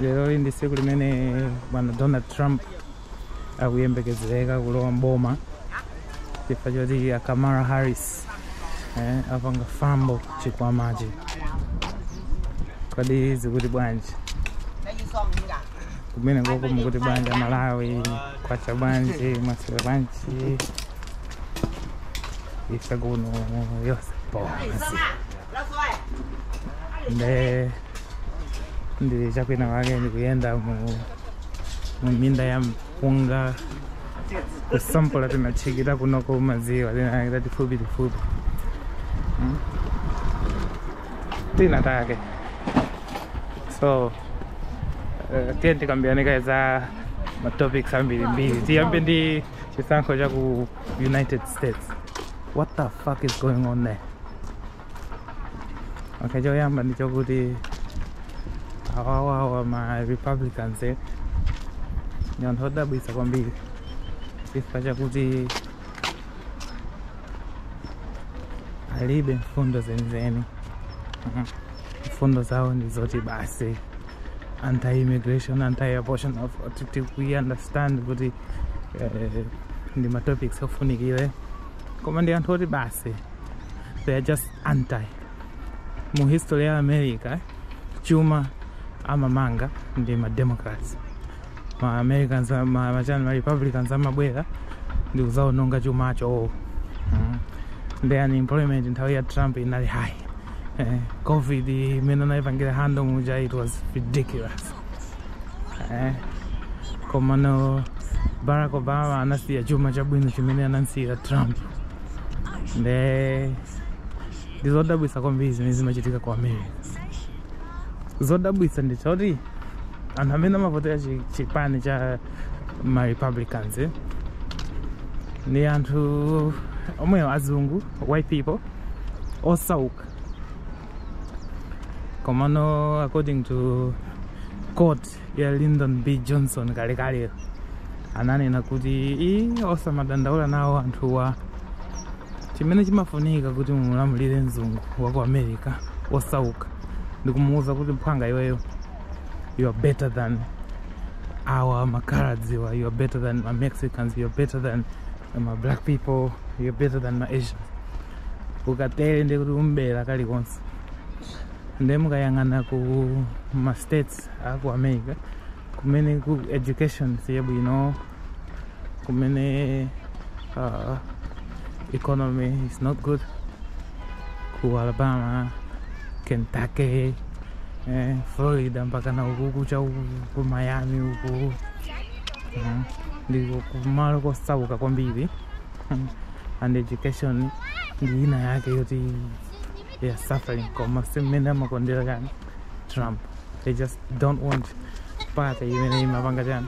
lero ndi tsiku limene bwana donald trump akuyembekezereka kulowa mboma chifukwa choti a kamala harris eh, apanga fambo chikwamachi kodi zikuti bwanji kumene koko mukuti bwanji amalawi kwacha bwanji mwaswera bwanji ife kuno konse ponse nde ndi chakwina wake ndikuyenda mu mu minda ya mpunga kusampola timatchikira kunoko mmadziwa tima take tatifupi tifupi Mm. tima take so eh, tiyeni tikambirane kaye za matopics ambirimbiri tiyambe ndi chisankho cha ku united states what the fuck is going on there okay choyamba ndi chokuti awawawa ma republicans eh, ni anthu odabwitsa kwambiri chifukwa chakuti alibe mfundo zenizeni Mhm. mfundo zawo ndi zoti basi anti-immigration anti-abortion of- ti- ti- we understand kuti eh, ndi matopics ofunikire koma ndi anthu oti basi they are just anti mu history ya america chuma amamanga ndi ma democrats ma americans ma, ma, chani, ma republicans amabwera ndi kuzaononga chumacho oh. mm. nde unemployment nthawi ya trump inali high eh, covid imene anaipangira handle muja it was ridiculous eh, komano barack obama anasiya chuma chabwino chimene anamsiyira trump nde ndi zodabwitsa kwambiri zimene zimachitika ku america chodabwitsa ndi choti anthu amene amavotera chi- chipani cha ma republicans eh, ndi anthu omwewo azungu white people osauka komano according to quote ya lyndon b johnson kalekale ananena kuti "Ii, osamadandaula nawo anthuwa chimene chimafunika kuti mumulamulire mzungu wa ku america osauka ndikumuwuza kuti mphwanga iweyo you are better than awa makaladiwa you are better than ma mexicans you are better than ma black people you are better than ma asians ukatero ndekuti umbera kalikonse nde mukayang'ana ku ma states States aku America kumene ku education siyabwino kumene uh, economy is not good ku Alabama Kentucky eh, Florida mpakana uku kucha uku ku Miami uku Mhm. ndiko kumalo kosauka kwambiri and education ndi ina yake yoti they are suffering koma simene amakondera chani trump they just don't want party imene imapanga chani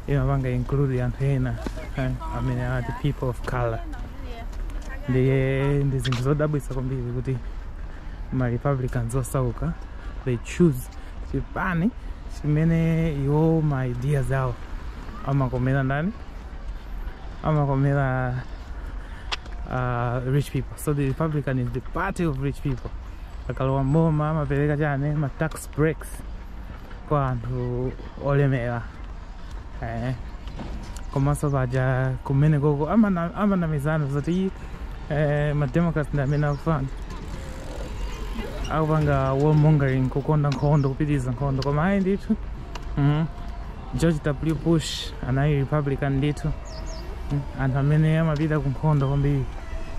imapanga include anthu ena eh, amene are the people of color ndiye ndi zinthu zodabwitsa kwambiri kuti ma republicans osauka they choose chipani chimene iwo ma ideas awo amakomera ndani amakomera uh, rich people so the republican is the party of rich people akalowa mboma amapereka chani ma tax breaks kwa anthu olemera eh. komanso paja kumeneko ko amana- amanamizana zoti eh, mademocrats ndi amene akufana akupanga warmongering kukonda nkhondo kupitiriza nkhondo koma ayi ndithu mm. george w bush anali republican ndithu anthu amene amapita ku nkhondo kwambiri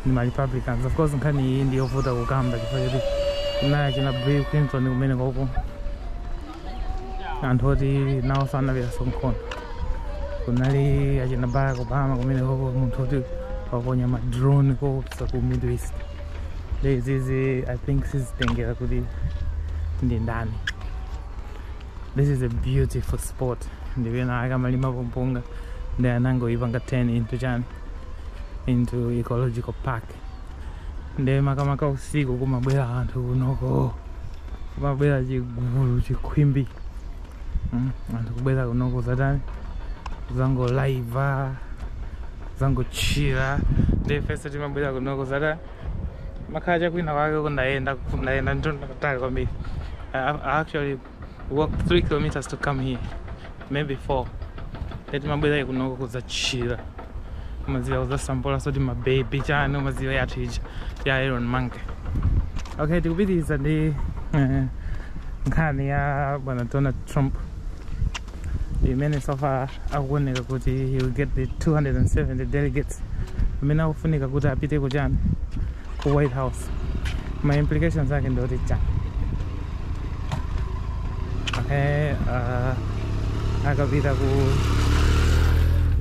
ndi ma republicans of course nkhani iyi ndi yovuta kukamba chifukwa choti kunali achina bill clinton kumeneko ko anthu oti nawo anapitaso kunkhondo kunali achina barack obama kumeneko ko munthu oti waponya ma drone koopsa ku middle east izizi i think sizitengera kuti ndi ndani this is a beautiful spot ndi penapake amalimapo mpunga ndiye anangoipanga turn into chani into ecological park ndi makamaka usiku kumabwera anthu kunoko kumabwera chigulu chikhwimbi Mm, anthu kubwera kuno kuzatani kuzangolaiva kuzangochila ndi ifeso timabwera kuno kuzatani ndimakhala chakwina kwake ku ndayenda ku ndayenda mtunda wautali kwambiri I, I actually walked 3 kilometers to come here maybe 4 ya timabwera kunoko kudzachila mukudziwa kudzasampula zoti mabebi chani mukudziwa yathu ija ya iron monkey okay tikupitiriza ndi eh, nkhani ya bwana donald trump imene so far akuoneka kuti he will get the 270 delegates amene akufunika kuti apite kuchani ku white house ma implications ake ndi oti chani okay, uh, akapita ku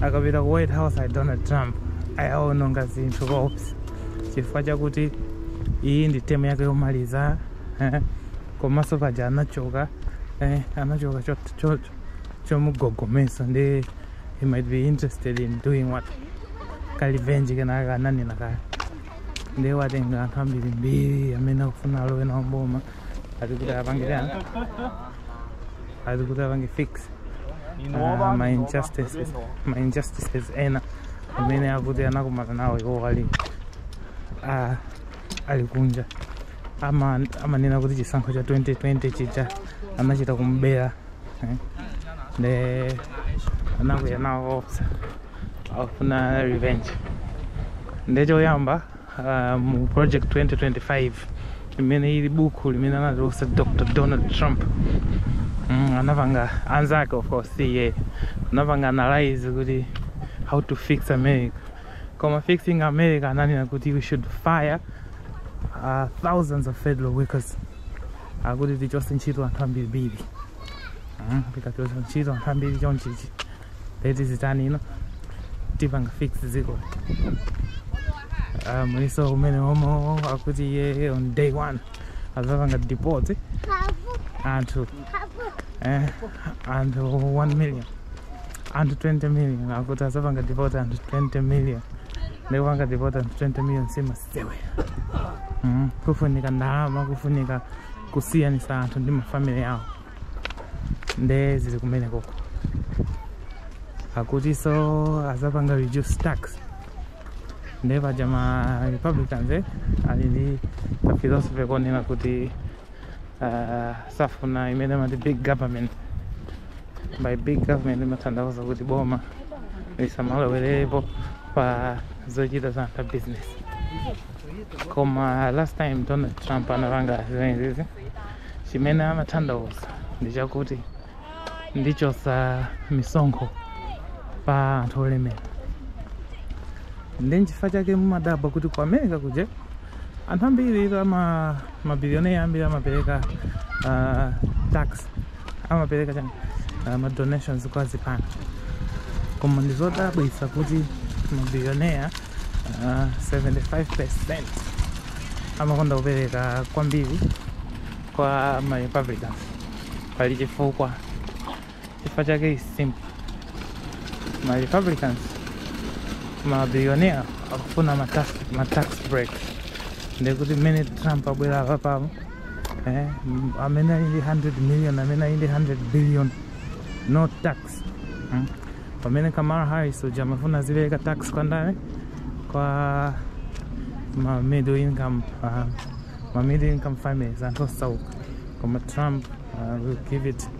akapita ku white house a donald trump akaononga zinthu koopsa chifukwa chakuti iyi ndi temu yake yomaliza komanso paja anachoka eh, anachoka chomugogomeza nde he might be interested in doing what kalivenji kenaka ananena kale nde watenga anthu ambirimbiri amene akufuna alowe nawo mboma ati kuti apange chani ati kuti apange fix uh, ma injustices ma injustices ena amene akuti anakumana nawo iwo wali uh, ali kunja ama- amanena kuti chisankho cha 2020 chija anachita kumbera eh. nde anakwiya nawo koopsa akufuna revenge nde choyamba ah, mu project 2025 imene ili buku limene anatulutsa dr donald trump mm, anapanga anzake of course iye anapanga analyze kuti how to fix america koma fixing america ananena kuti we should fire uh, thousands of federal workers akuti tichose ntchito anthu ambirimbiri Mm, tikachosa ntchito anthu ambiri chonchichi leti zitani ino tipanga fix ziko Ah, muliso mmene omo akuti iye on day one azapanga deport anthu eh, anthu 1 million anthu 20 million akuti azapanga deport anthu 20 million nde kupanga deport anthu 20 million simasewera mm. kufunika ndalama kufunika kusiyanisa anthu ndi mafamily awo nde zili kumene koko akutiso azapanga reduce tax nde paja ma republicans eh, ali ndi philosophy yonena kuti Ah, safuna imene amati big government by big government imatanthauza kuti boma lisamalowerepo pa zochita za anthu a business koma last time donald trump anapanga zimenezi chimene amatanthauza ndi chakuti ndichosa misonkho pa anthu olemera ndi nchifukwa chake mumadabwa kuti ku america kuja anthu ambiri ama mabilionea ambiri amapereka uh, tax amapereka chani uh, ma donations kwa zipani koma ndi zodabwisa kuti mabilionea uh, 75% amakonda kupereka kwambiri kwa ma republicans pali chifukwa chifukwa chake is simple ma republicans ma billionaires akufuna ma tax, ma tax break ndekuti mmene trump abwera apapa eh, m- amene ali ndi 100 million amene ali ndi 100 billion no tax mm. pamene kamala harris uja amafuna zipereka tax kwa ndani kwa ma middle income uh, ma middle income families anthu osauka koma trump uh, will give it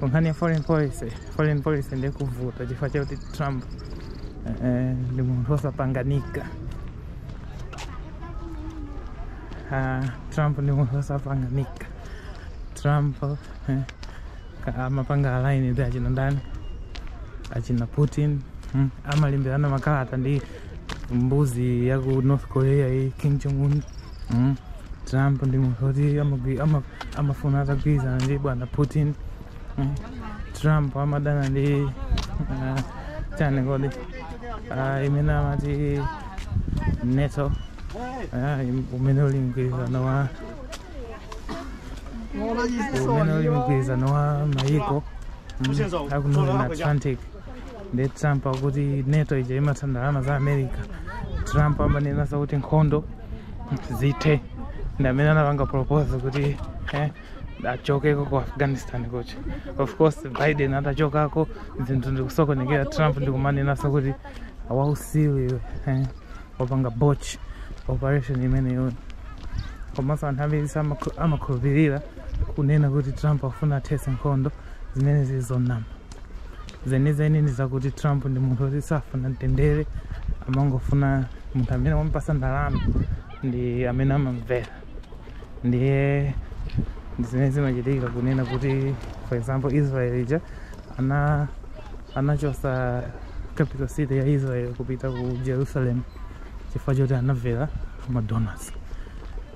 pankhani ya foreign policy foreign policy ndiye kuvuta chifukwa chakuti trump eh, ndi munthu wosapanganika Ah, trump ndi munthu wosapanganika trump eh, ka- amapanga align ndi achina ndani achina putin mm, amalemberana makalata ndi mbuzi ya ku north korea iyi kim jong un Mm. Trump ndi munthu oti amagwi- ama- amafuna atagwirizana ndi bwana Putin. Mm. Trump amadana ndi uh, chani kodi uh, imene amati NATO uh, im- umene uli mgwirizano wa umene uli mgwirizano wa mayiko mm, aku North Atlantic. ndi trump akuti nato ija imatha ndalama za america trump amanenanso kuti nkhondo zithe ndi amene anapanga propose kuti eh, achokeko ku afghanistan kucha of course biden atachokako zinthu ndikusokonekera trump ndikumanenanso kuti wausiru iwe eh, wapanga botch operation imeneyo komanso anthu ambiri samakhu- amakhulupirira kunena kuti trump afuna athetse nkhondo zimene zili zonama zenizeni ndi zakuti trump ndi munthu woti safuna mtendere amangofuna munthu amene wamupasa ndalama ndi amene amamvera ndiye ndi zimene zimachitika kunena kuti for example israel ija ana anachosa capital city ya israel kupita ku jerusalem chifukwa choti anamvera madonors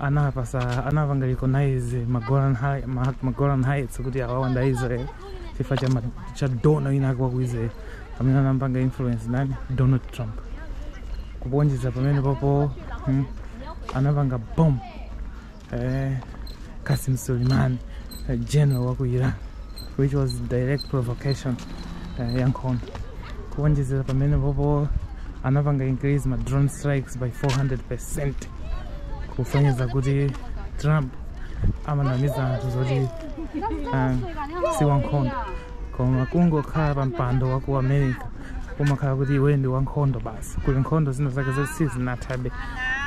anapasa anapanga recognize magolan Hei- Ma- magolan heights kuti awa ndi a israel chifukwa cha, ma- cha donor winawake waku israel amene anampanga influence ndani donald trump kuonjeza pamene popo mm, anapanga bomb eh, kasim suleiman eh, general waku iran which was direct provocation eh, ya nkhondo kuonjezera pamene popo anapanga increase ma drone strikes by 400 percent kusonyeza kuti trump amanamiza anthu zoti um, si wankhondo koma kungokhala pa mpando wa ku america kumakhala kuti iwe ndi wankhondo basi kuli nkhondo zina zake zoti sizinathabe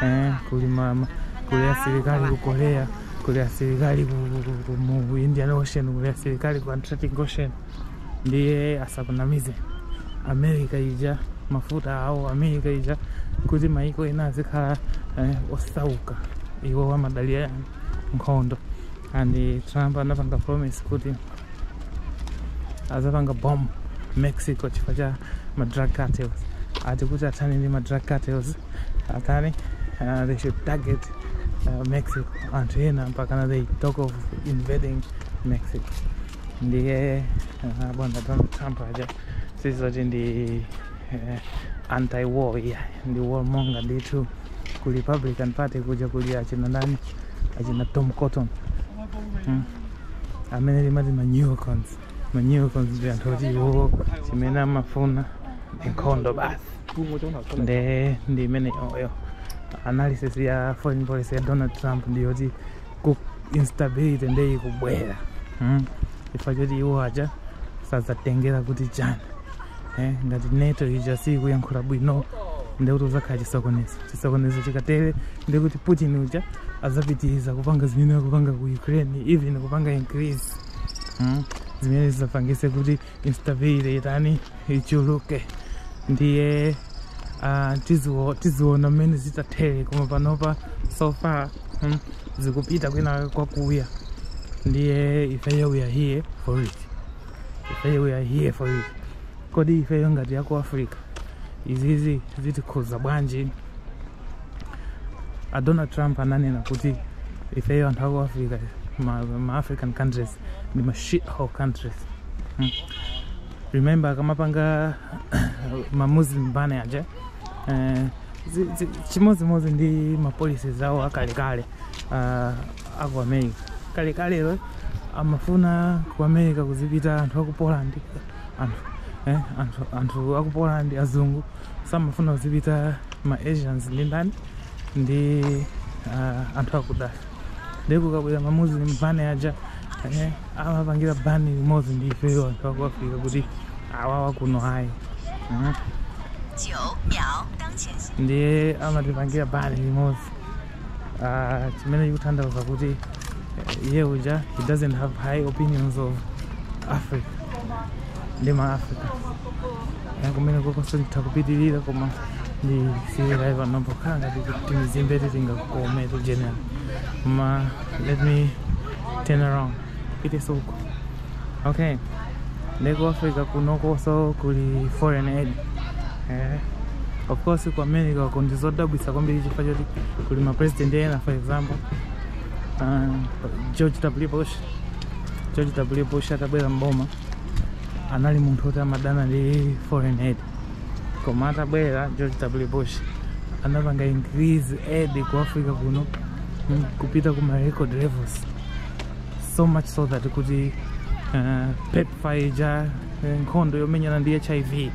eh, kuli mama kuli asilikali ku korea kuli asilikali ku, ku, ku, ku, mu indian ocean kuli asilikali ku atlantic ocean ndiye asakunamize america ija mafuta awo america ija kuti maiko ena azikhala eh, osauka iwo amadalira nkhondo and eh, trump anapanga promise kuti azapanga bomb mexico chifukwa cha ma drug cartels ati kuti athane ndi ma drug cartels atero uh, they should target uh, mexico anthu ena mpakana they talk of invading mexico ndiye ah, bwana donald trump aja sizoti ndi eh, anti war iya ndi warmonger ndithu ku republican party kuja kuli achina ndani achina tom cotton mm. amene timati ma neocons ma neocons ndi anthu oti iwo chimene amafuna ndi nkhondo basi nde ndi imeneyoyo analysis ya foreign policy ya donald trump ndiyoti kuti instability nde ikubwera mm? chifukwa choti iwo aja sadzatengera kuti china eh? ngati nato ija siikuyankhula bwino ndekuti kuzakhala chisokonezo chisokonezo chikatere ndekuti putin uja azapitiriza kupanga zimene akupanga ku ukraine even kupanga increase mm? zimene zizapangise kuti instability itani ichuluke ndiye ah, tiziwo- tiziona mmene zitathere koma panopa so far mm, zikupita kwina kwakuya ndiye ifeyo we are here for it ifeyo we are here for it kodi ifeyo ngati yaku africa izizi zitikhuza bwanji a donald trump ananena kuti ifeyo anthu aku africa ma, ma african countries ndi ma shithole countries mm. remember kumapanga ma muslim ban aja eh, zi- zi- chimodzimodzi ndi ma policies awo akalekale ah, aku america kalekalero amafuna ku america kuzipita anthu aku poland anthu eh, anthu, anthu aku poland azungu samafuna kuzipita ma asians ndi ndani ndi ah, anthu akuda ndipo kabwera ma muslim ban aja eh, amapangira ban limodzi ndi ifeyo anthu aku africa kuti awawa kuno ayi Mhm. ndiye amatipangira ban limodzi Ah, chimene chikutanthauza kuti eh, iye uja he doesn't have high opinions of africa ndi ma africa na kumene kokonso nditha kupitirira koma ndisiyira pano pokhala ngati kuti ndizimbe titingakome to general koma let me turn around peter sawuko okay nde ku africa kunokonso kuli foreign aid eh. of course ku america uko ndizodabwisa kwambiri chifukwa choti kuli ma president ena for example uh, george w bush george w bush atabwera mboma anali munthu woti amadana ndi foreign aid koma atabwera george w bush anapanga increase aid ku africa kuno mm, kupita kuma record levels so much so that kuti uh, pepfar ija eh, nkhondo yomenyana ndi hiv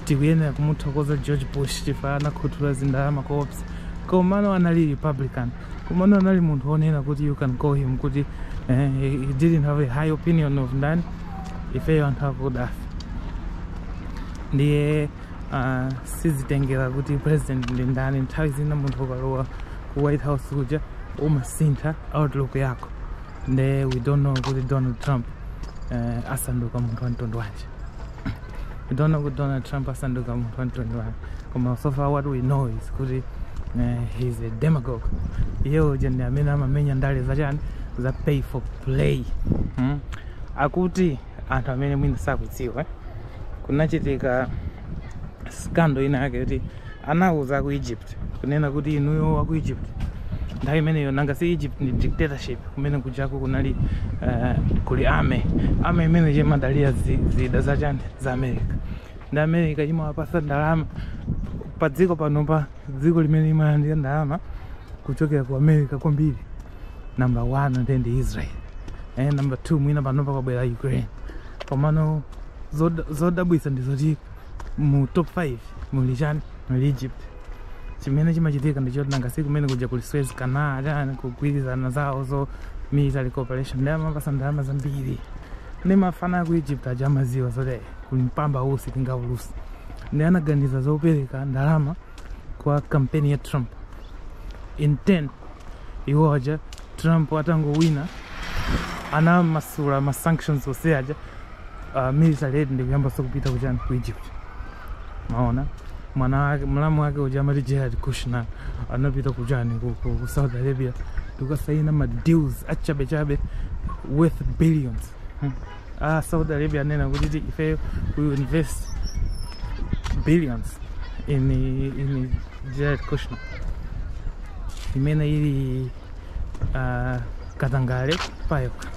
tikuyenera kumuthokoza george bush chifukwa anakhuthula zindalama koopsa komano anali republican komano anali munthu wonena kuti you can call him kuti eh, he didn't have a high opinion of ndani ifeyo anthu akudafe ndiye uh, sizitengera kuti president ndi ndani nthawi zina munthu ukalowa ku white house kuja umasintha outlook yako nde we don't know kuti donald trump uh, asanduka munthu wa mtundu wanji don't know kuti donald trump asanduka munthu wanji koma so far what we know is kuti uh, eh, he's a demagogue iye uja ndi amene amamenya ndale zachani za pay for play hmm? akuti anthu amene mwina sakudziwa kunachitika scandal ina yake kuti Anauza aku Egypt kunena kuti inuyo wa ku Egypt nthawi imeneyo nanga si Egypt ndi dictatorship kumene kujako kunali eh, kuli army army imene imadalira zi- zida za chani za America ndi America imawapasa ndalama pa dziko pano dziko limene imalandira ndalama kuchokera ku America kwambiri number one nde ndi Israel eh, number two mwina panopa kwabwera Ukraine komano zod- zodabwisa ndi zoti mu top 5 muli chani muli egypt chimene chimachitika ndichoti nanga si kumene kuja kuli suez canal chani kugwirizana zawo za military cooperation nde amawapasa ndalama zambiri nde mafana aku egypt aja amaziwa zoti kuli mpamba usi tingaulusi nde anaganiza zopereka ndalama kwa kampeni ya trump in 10 iwo aja trump atangowina anamasula ma sanctions onse aja uh, military aid ndikuyambanso kupita kuchani ku egypt maona mwana wake mlamu wake uja amati jared kushner anapita kuchani ku, ku, ku saudi arabia ndikukasaina ma deals achabechabe worth billions hmm. a saudi arabia anena kuti ti- ifeyo we will invest billions in, in jared kushner imene ili uh, katangale payokha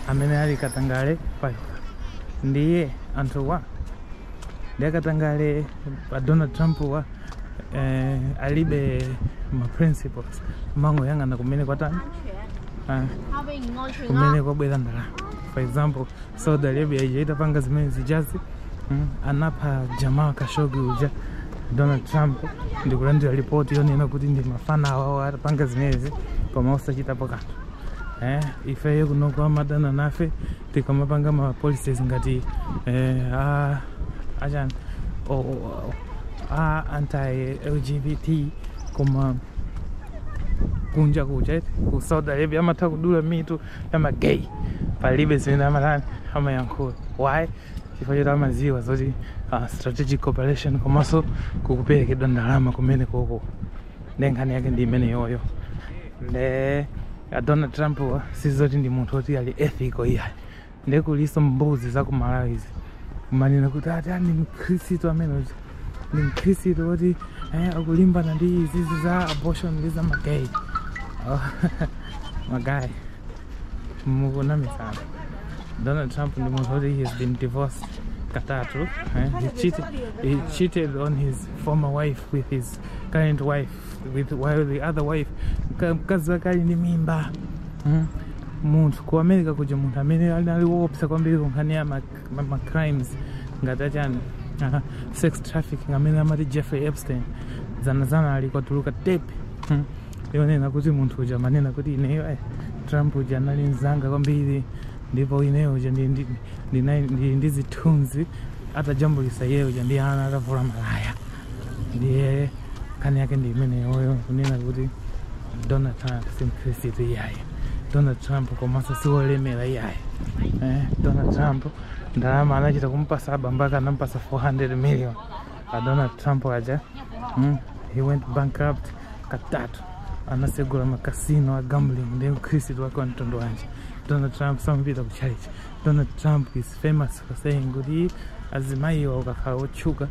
amene ali katangale payokha ndiye anthuwa ndi akatangale pa donald trump wa eh, alibe ma principles amangoyang'ana kumene kwatani ah, kumene kwabwera ndalama for example saudi arabia ija itapanga zimene zijazi mm, anapha jamal khashoggi uja donald trump ndikulandira ripoti yonena kuti ndi mafana awo apanga zimenezi koma osachitapo kanthu eh, ifeyo kunoko amadana nafe tikamapanga ma policies ngati eh, achani o- o- a anti lgbt koma kunja kuja eti ku saudi arabia amatha kudula mitu ya magay palibe zimene amatani amayankhula why chifukwa choti amaziwa zoti uh, strategic cooperation komanso kukuperekedwa ndalama kumene koko nde nkhani yake ndi imeneyoyo nde a Donald Trump wa sizoti ndi munthu oti ali ethical iyayi ndiye kuliso mbuzi za ku Malawi izi kumanena kuti ati ah, ndi mkhristu amene uja ndi mkhristu woti eh, akulimbana ndi izizi za abortion ndi za magay oh, magay akunamizana Donald Trump ndi munthu woti he has been divorced katatu eh, he, cheated, he cheated on his former wife with his current wife while the other wife mka- mkazi wake ali ndi mimba mm? munthu ku america kuja munthu amene anali woopsa kwambiri kunkhani ya ma- ma- ma crimes ngati achani aha, sex trafficking amene amati jeffrey epstein zanazanali kwatuluka tepe mm? yonena kuti munthu uja amanena kuti ineyo eh, trump uja anali mzanga kwambiri ndipo ineyo uja ndi- ndi- ndinali- ndili ndi zithunzi atajambulisa iyeyo uja ndi ana atavula malaya ndiye nkhani yake ndi imeneyoyo kunena kuti donald trump si mkhristu iyayi donald trump komanso si wolemera iyayi eh, donald trump ndalama anachita kumpasa abambo ake anampasa 400 million a donald trump aja mm, he went bankrupt katatu anasegula makasino a gambling ndi mkhristu wake wa mtundu wanji donald trump samapita ku church donald trump is famous for saying kuti azimayiwa ukakhala otchuka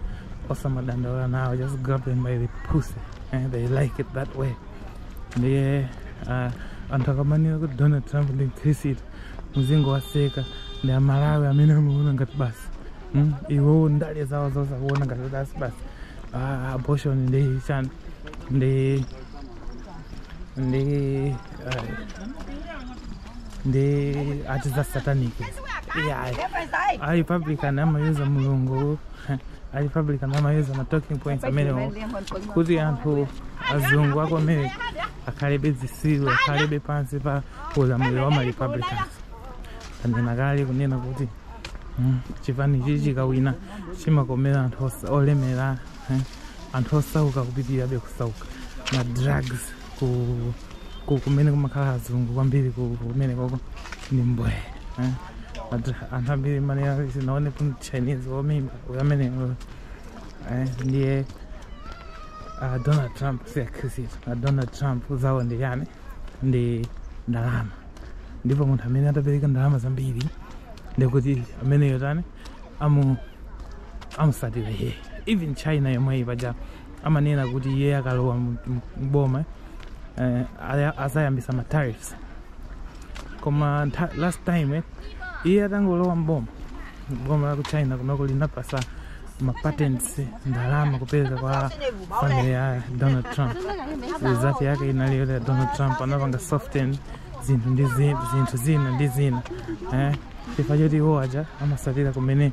samadandaula nawo just grab them by the pussy and they like it that way ndiye uh, anthu akamanena kuti donald trump ndi mkhristu muzingowaseka ndi amalawi amene amaona ngati basi mm? iwowo ndale zawo zonse akuona ngati basi basi ah, abortion ndi chani ndi ndi uh, ndi ati za satanic yeah, ayi. a republican amayuza mulungu a republican amayuza ma talking points amenewo kuti anthu azungu a ku America akhalebe zisiru akhalebe pansi pa ulamuliro wa ma republicans tanena kale kunena kuti mm, chipani chichi chikawina chimakomera anthu osa- olemera eh, anthu osauka kupitirabe kusauka ma drugs ku ku kumene kumakhala azungu kwambiri ku- kumene koko ndi mbwee eh. But anthu ambiri man sinaone ku chinese womimba uyu amene eh, ndiye uh, donald trump si mkhristu uh, donald trump zawo ndi chani ndi ndalama ndipo munthu amene atapereke ndalama zambiri ndikuti ameneyo tani amusatira iye even china yomweyi paja amanena kuti iye akalowa mu- mu- m'boma eh, aya- azayambisa ma tariffs koma ntha- last time eh, iye atangolowa m'boma boma la ku china kunoko linapasa ma patents ndalama kupereka kwa family ya donald trump result yake inali yoti donald trump anapanga soften zinthu ndi zi- zinthu zina ndi zina eh, chifukwa choti iwo aja amasatira kumene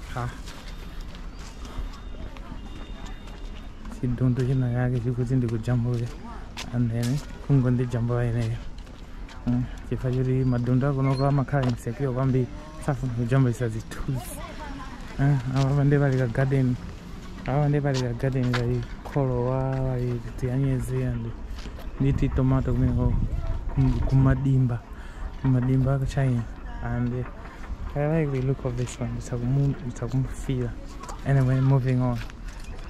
ha chidundu china chake chikuti ndikujambule and ine kungondijambula ineyo Mm, chifukwa choti madundu akunoko amakhala insecure kwambiri safuna kujambulisa zithunzi Ah, apa ndi pali ka garden apa ndi pali ka garden kali kholowa pali tianyezi and ndi ti tomato kumeneko kum- kumadimba kumadimba a ku china and I like the look of this one. It's a moon, it's a moon feel. Anyway, moving on.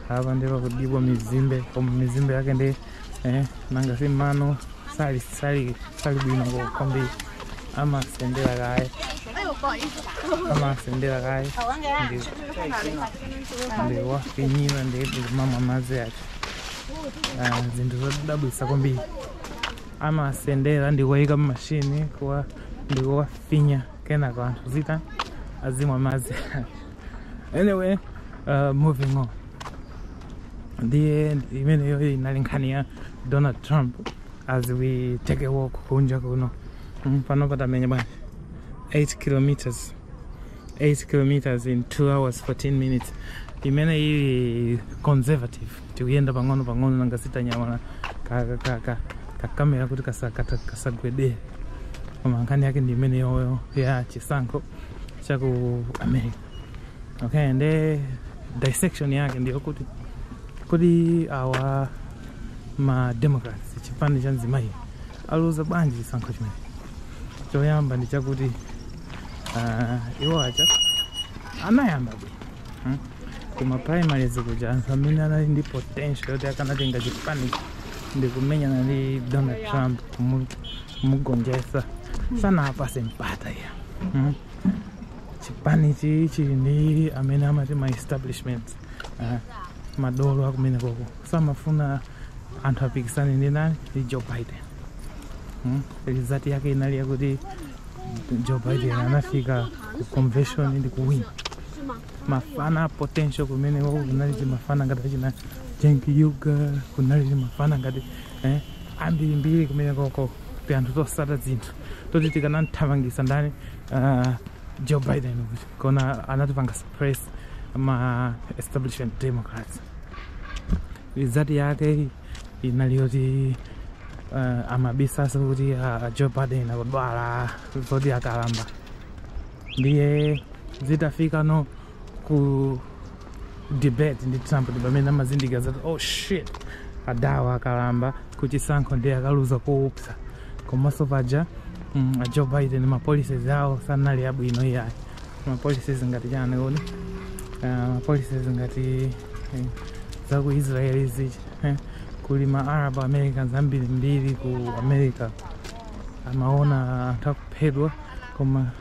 Apa ndi pakudyedwa mizimbe, koma mizimbe yake ndi eh, nanga si mano sali sali sali bwino kwa kwambiri amasendera kaye amasendera kaye ndi ndi kuwafinyira ndi kumamwa madzi ake Ah, zinthu zodabwitsa kwambiri amasendera ndikuwayika mmashini kuwa ndikuwa finya kenako anthu azitha azimwa madzi anyway uh, moving on ndiye imeneyo inali nkhani ya donald trump as we take a walk kunja kuno Mm, pano patamenya bwana 8 kilometers 8 kilometers in 2 hours 14 minutes imene ili conservative tikuyenda pang'ono pang'ono nanga si tanyamula kakamera kuti kasagwedere koma nkhani yake ndi imene yoyo ya chisankho cha ku america okay nde dissection yake ndiyo kuti kodi awa ma democrats chipani cha mzimayi aluza bwanji chisankho chimene choyamba ndi chakuti uh, iwo aja anayamba bwino Hmm? Kuma primaries kuja anthu amene anali ndi potential yoti akanatenga chipani ndi kumenyana ndi Donald Trump kumu- kumugonjetsa sanawapatse mpata iyayi hmm? chipani chi chili ndi amene amati ma establishment eh, madolo akumene koko samafuna anthu apikisane ndi nani ndi Joe Biden hmm? result yake inali yakuti Joe Biden anafika ku convention ndi kuwina mafana a potential kumeneko kunali timafana ngati achina Cenk Uygur kunali timafana ngati eh, ambirimbiri kumene koko kuti anthu tosata zinthu toti tikanamthamangisa ndani uh, Joe Biden kuti koma anatipanga suppress ma establishment democrats result yake inali yoti uh, amabisabisa kuti uh, Joe Biden akudwala zoti akalamba ndiye zitafikano ku debate ndi trump ndi pamene amazindikira zoti oh shit adawa akalamba kuchisankho ndiye akaluza koopsa komanso paja mm, a joe biden ma policies awo sanali abwino iyayi ma policies ngati chani kodi Ah, ma policies ngati eh, za ku israel izi eh, kuli ma arab americans ambirimbiri ku america amaona anthu akuphedwa koma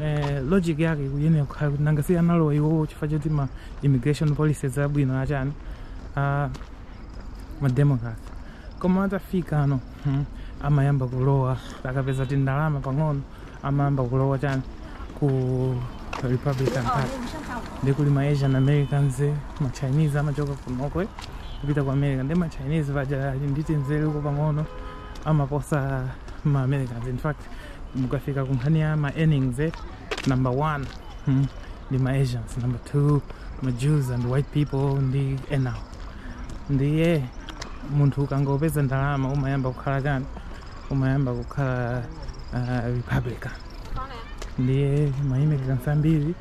eh, logic yake ikuyenera kukhala kuti nanga si analowa iwowo chifukwa choti ma immigration policies abwino achani a ma democrat koma atafika ano hmm, amayamba kulowa akapeza tindalama pang'ono amayamba kulowa chani ku republican party ndi kuli ma asian americans ma chinese amachoka kwawoko eh, kupita ku america ndi ma chinese paja ali ndi tinzeruko pang'ono amaposa ma americans in fact mukafika ku nkhani ya ma earnings eh, number one hmm, ndi ma asians number two ma jews and white people ndi enawo ndiye munthu ukangopeza ndalama umayamba kukhala chani umayamba kukhala uh, republican ndiye ma immigrants ambiri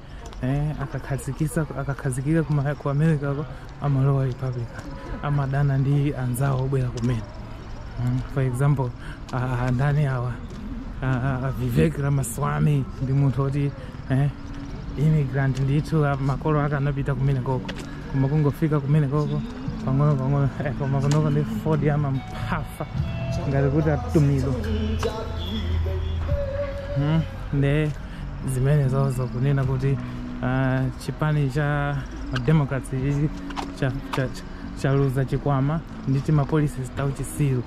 eh, akakhazikisa akakhazikika kuma- ku america ko amalowa republican amadana ndi anzawo obwera kumene mm, for example ah, ndani awa ah, ah, vivek ramaswamy ndi munthu oti eh, immigrant ndithu ah, makolo ake anapita kumenekoko koma kungofika kumenekoko pang'ono pang'ono eh, koma kunoko ndi ford amamphafa ngati kuti atumidwa mm, nde zimenezozo kunena kuti ah, chipani cha democrats ichi cha- cha- cha- chaluza chikwama ndi timapolicies tauchisiru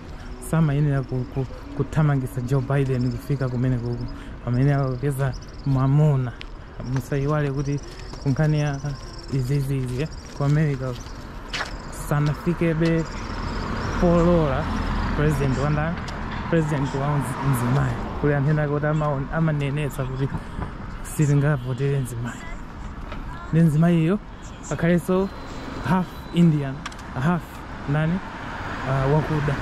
samayenera ku- ku- kuthamangitsa joe biden kufika kumenekuku amayenera kupeza mwamuna musayiwale kuti kunkhani ya izizizi ku america sanafikebe polola president wanda president wa mzi- mzimayi kuli anthu ena kuti amaon- amanenetsa kuti sitingavotere mzimayi ndi mzimayiyo akhalenso half indian half nani uh, wakuda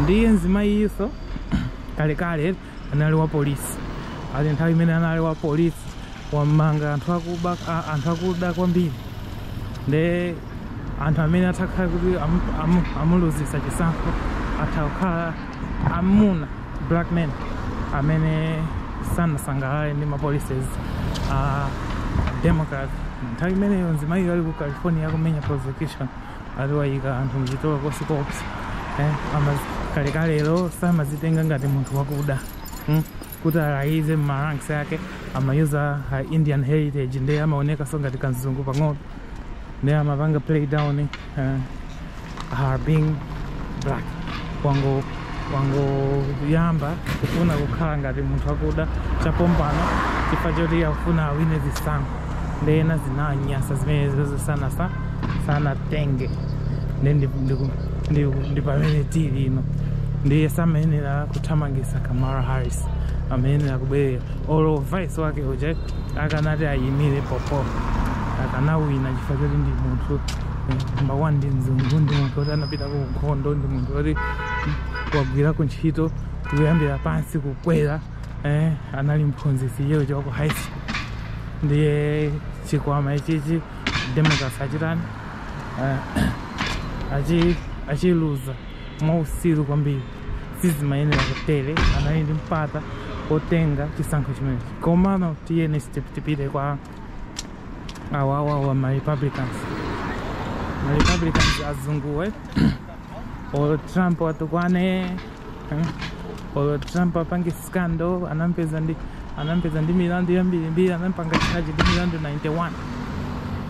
ndiye mzimayiyinso kalekale anali wa polisi ali nthawi imene anali wa polisi wamanga anthu akuba a- anthu akuda kwambiri nde anthu amene atakhala kuti amu- amu- amuluzisa chisankho atha kukhala amuna black men amene sanasangalale ndi mapolicies a democrat nthawi imeneyo mzimayiyo ali ku california akumenya prosecution ati wayika anthu mchitolokosi koopsa eh, ama kalekalelo samazitenga ngati munthu wakuda hmm? kuti alayize mmaranks yake amayuza uh, indian heritage ndiye amaonekaso ngati kanzungu pang'ono ndiye amapanga play down uh, her being black kwangu wangoyamba kufuna kukhala ngati munthu wakuda chapompano chifukwa choti akufuna awine zisankho nde ena zinanyasa zimenezozo sanasa sanatenge ndi ndi- ndi- ndi- ndi pamene tili ino ndiye samayenera kuthamangisa kamala harris amayenera kubwerera olo vice wake uja akanati ayimire popo akanawina chifukwa choti ndi munthu namba one ndi mzungu ndi munthu woti anapita ku nkhondo ndi munthu woti wagwirako ntchito kuyambira pansi kukwera eh, anali mphunzitsi iyeyo chaku high school ndiye chikwama ichichi democrats achitani eh, achi- achiluza mwausiru kwambiri sizimayenera kutere anali ndi mpata otenga chisankho chimenechi komano tiyeni step tipite kwa awawawa ma republicans ma republicans azunguwe olo trump atukwane eh, olo trump apange scandal anampeza ndi anampeza ndi milandu yambirimbiri anampanga charge ndi milandu 91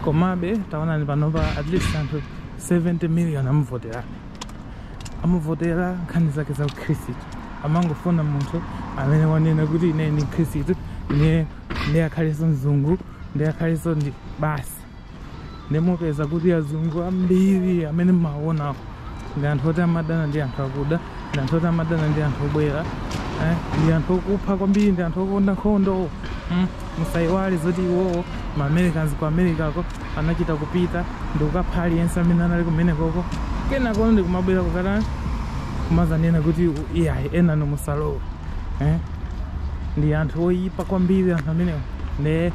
komabe taonani panopa at least anthu 70 million amuvotera amuvotera nkhani zake za ukhristu amangofuna munthu amene wanena kuti ine ndi mkhristu ine ndi akhalenso mzungu ndi akhalenso ndi basi nde mupeza kuti azungu ambiri amene mmawaonawo ndi anthu oti amadana ndi anthu akuda ndi anthu oti amadana ndi anthu obwera eh, ndi anthu okupha kwambiri ndi anthu okonda nkhondo mm, musayiwale zoti iwowo ma americans ku americako anachita kupita ndi kukapha aliyense amene anali kumenekoko kenako ndi kumabwera kukatani kumazanena kuti u- iyayi enanu musalowe eh? ndi anthu oyipa kwambiri anthu amenewo nde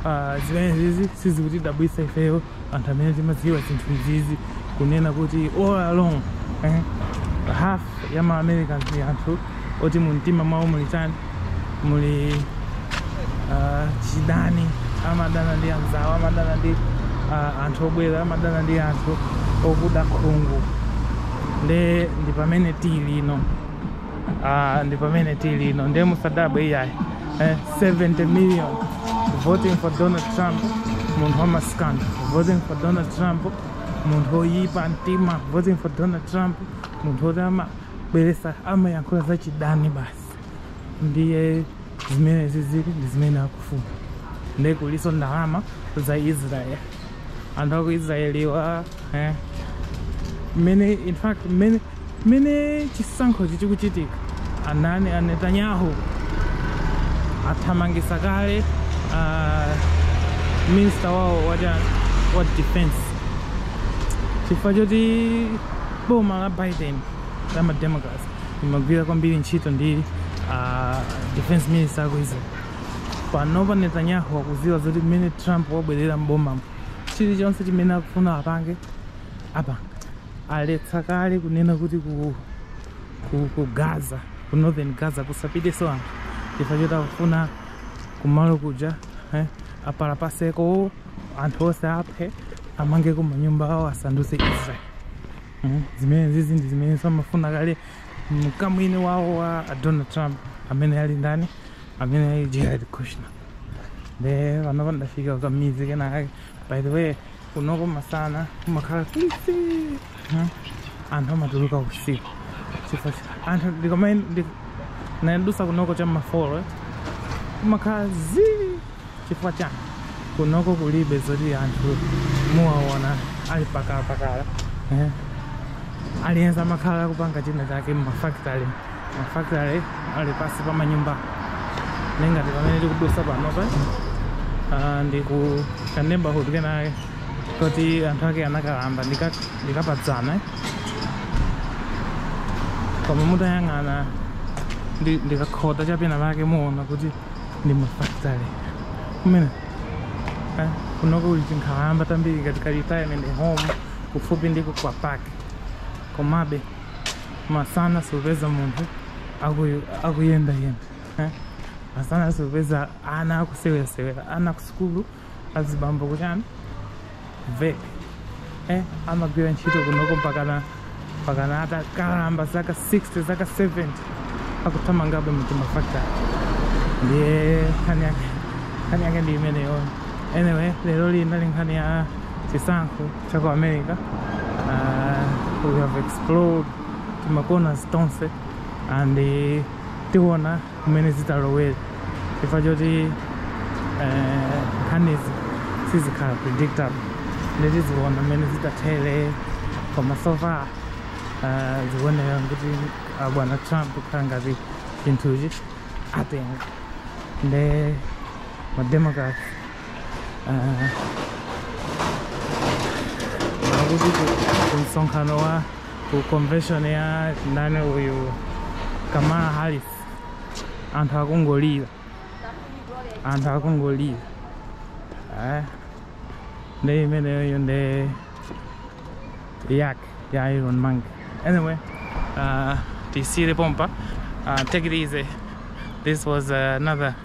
Ah, zimene izizi sizikutidabwisa ifeyo anthu amene timadziwa zinthu izizi kunena kuti all along eh, half ya ma americans ndi anthu oti mu mtima mwawo muli chani muli ah, chidani amadana ndi anzawo amadana ndi ah, anthu obwera amadana ndi anthu okuda khungu nde ndi pamene tili ino Ah, ndi pamene tili ino nde musadabwe iyayi eh, 70 million voting for donald trump munthu wamaskando voting for donald trump munthu oyipa mtima voting for donald trump munthu oti amabweresa amayankhula za chidani basi ndiye zimene izizi ndi zimene akufuna nde kuliso ndalama za israel anthu aku israeliwa eh, mmene in fact mmene mmene chisankho chichikuchitika anani a netanyahu athamangisa kale uh, minister wawo wa cha- wa defense chifukwa choti boma la biden la mademocrat imagwira kwambiri ntchito ndi uh, defense minister aku israel panopa netanyahu akuziwa zoti mmene trump wabwerera m'bomamu chilichonse chimene akufuna apange apanga aletsa kale kunena kuti ku, ku, ku gaza ku northern gaza kusapiteso anthu chifukwa choti akufuna kumalo kuja eh, apalapaseko anthu onse aphe amangeko manyumba awo asanduse israel Mm, zimene izizi ndi zimene amafuna kale mkamwini wawo wa a donald trump amene ali ndani amene ali jared kushner nde panopa ndafika kukamuzi kenakake by the way kunoko masana kumakhala kwisi Mm, anthu amatuluka usiku chifukwa cha- anthu ndikamayi nadusa kunoko cha m'mafolo kumakhala zii chifukwa chani kunoko kulibe zoti anthu muwaona ali pakalapakala eh? aliyense amakhala akupanga china chake mumafactory mafactory ali pasi pa manyumba ningati pamene tikudusa panopa ah, ndi ku ka neighborhood kenake koti anthu ake anakalamba ndika- ndikapadzana eh? koma mutayang'ana ndi- ndikakhota chapena pake muona kuti ndi mafactory kumene eh, kunoko kuli tinkhalamba tambiri ngati ka retirement home kufupi ndiko kwa park komabe masana supeza munthu akuyu- akuyendayenda eh? masana supeza ana akusewera-sewera ana kusukulu azibambo kuchani ve eh, amagwira ntchito kunoko mpakana mpakana atakalamba zaka 60 zaka 70 akuthamangabe m'timafactory ndiye nkhani yake nkhani yake ndi imeneyo anyway lero linali nkhani ya chisankho cha ku america uh, we have explored timakona tonse and eh, tiona kumene zitalowere chifukwa choti eh, nkhanizi sizikhala predictable nde tiziona mmene zitathere koma so far eh, zikuoneka kuti abwana trump kukhala ngati chinthuchi atenga nde mademocrats kumsonkhano wa ku convention ya ndani uyu kamala harris anthu akungolira anthu akungolira eh? nde imeneyoyo ndi yak ya iron man anyway uh, tisiyire pompa uh, take it easy this was uh, another